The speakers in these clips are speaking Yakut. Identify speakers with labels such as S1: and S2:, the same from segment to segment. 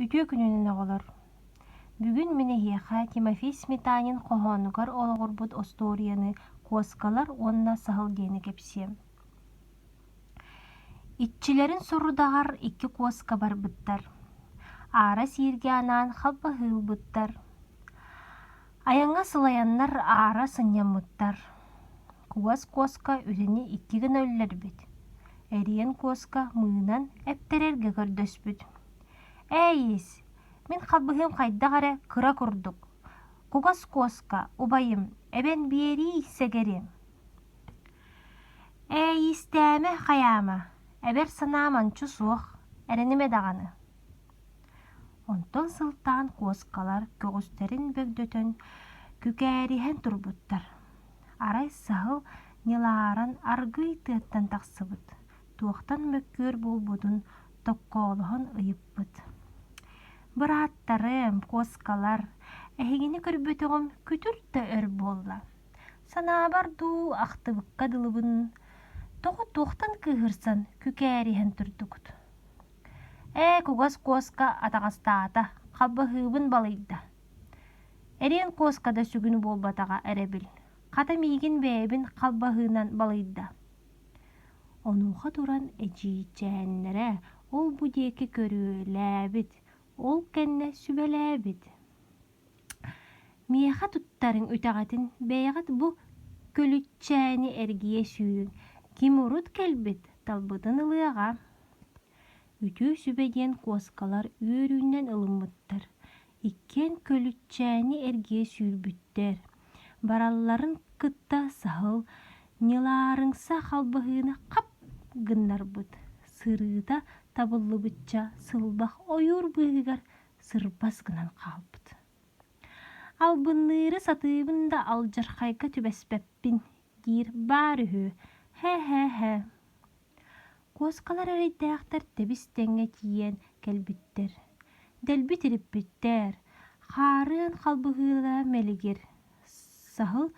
S1: Үтүө күнүнэн оҕолор! Бүгүн мин эһиэхэ Тимофей Сметанин хоһоонугар олоҕурбут остуоруйаны «Куоскалар уонна саһыл» диэни кэпсиэм. Иччилэрин сорудаҕар икки куоска барбыттар. Аара сииргэ анаан халбаһыы ылбыттар. Айаҥҥа сылайаннар аара сынньаммыттар. Куос куоска үлэни икки гына өллөрбүт. Эриэн куоска мыынан эптэрэргэ көрдөспүт. Ээ-иис, мин халбаһыам хайдах эрэ кыра курдук, кугас куоска убайым эбэн биэрии сэгэриэм. Ээ-иистээмэ хайаама, эбэр санаам анчу суох, эрэнимэ даҕаны. Онтон сылтаан куоскалар көҕүстэрин бөгдөтөн күкээриһэн турбуттар. Арай саһыл ньылааран аргыый тыаттан тахсыбыт, туохтан мөккүөр буолбутун токкоолоһон ыйыппыт. «Бырааттарым, куоскалар, эһигини көрбөтөҕүм күтүр да өр буолла. Санаабар дуу, ахтыбыкка дылыбын, тоҕо туохтан кыыһырсан, күкээриһэн турдугут?» «Ээ, кугас куоска атаҕастаата, хабыһыыбын балыйда. Эриэн куоска да сүгүн буолбатаҕа эрэбил, хата миигин бэйэбин халбаһыынан балыйда. Онуоха туран эдьиийчээннэрэ ол-бу диэки көрүөлээбит, ол кэннэ сүбэлээбит. «Миэхэ туттарыҥ үтэҕэтин, бэйэҕит бу көлүччээни эргийэ сүүрүҥ, ким урут кэлбит, талбытын ылыаҕа» үтүө сүбэ диэн куоскалар үөрүүнэн ылыммыттар. Иккиэн Көлүччээни эргийэ сүүрбүттэр. Баралларын кытта Саһыл Ньылаарыҥса халбаһыыны хап гыннарбыт, сырыыта табыллыбычча сылбах ойуур быыһыгар сырбас гынан хаалбыт. Албынныыры сатыыбын да алдьархайга түбэспэппин диир баар үһү, һэ-һэ-һэ Куоскалар эрэйдээхтэр тэбис-тэҥҥэ тиийэн кэлбиттэр. Дэлби тириппиттэр, хаарыан халбыһыыла мэлигир, саһыл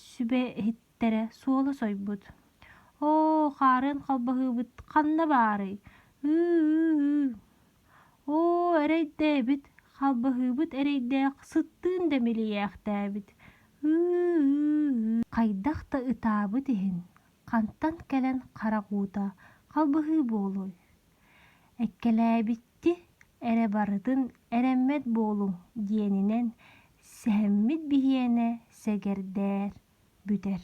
S1: сүбэ иһиттэрэ суола сойбут. «Оо, хаарыан халбаһыыбыт ханна баарый? Ыы-ыы-ыы! Оо, эрэйдээбит, халбаһыыбыт эрэйдээх сыттыын да милийээхтээбит. Ыы-ыы-ыы!» Хайдах да ытаабыт иһин хантан кэлэн харах уута халбыһыы буолуой? Эккэлээбитти эрэ барытын эрэммэт буолуҥ диэнинэн сэһэммит биһиэнэ сэгэрдээр бүтэр